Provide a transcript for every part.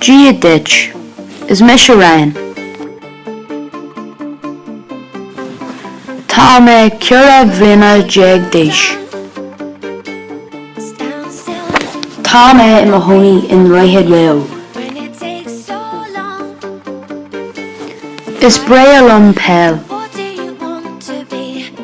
Dia duit. Is mise Ryan. Tá mé ceithre bliana déag d'aois. Tá mé i mo chónaí i nDroichead Mhaigh Eo. Is breá liom peil.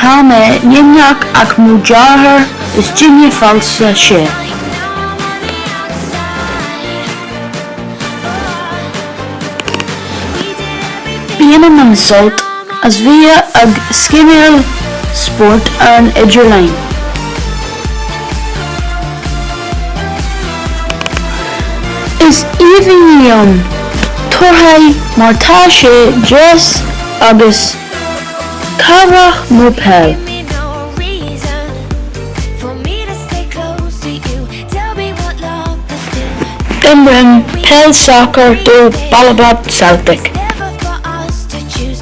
Tá mé gníomhach ach mo dheartháir is duine falsa sé. Bainim an-sult as bheith ag scimeáil spóirt ar an idirlíon. Is aoibhinn liom torthaí mar tá sé deas agus cabhrach mo peil. Imrím peil sacar do Ballybot Celtic.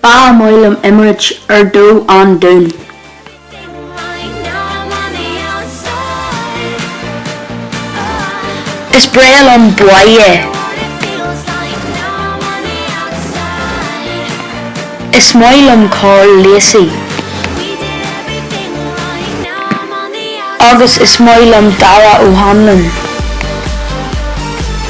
Ba mhaith liom imirt ar do an Dún. Is breá liom buaidh é. Is maith liom Karl Lacey. Agus is maith liom Darragh O'Hanlon.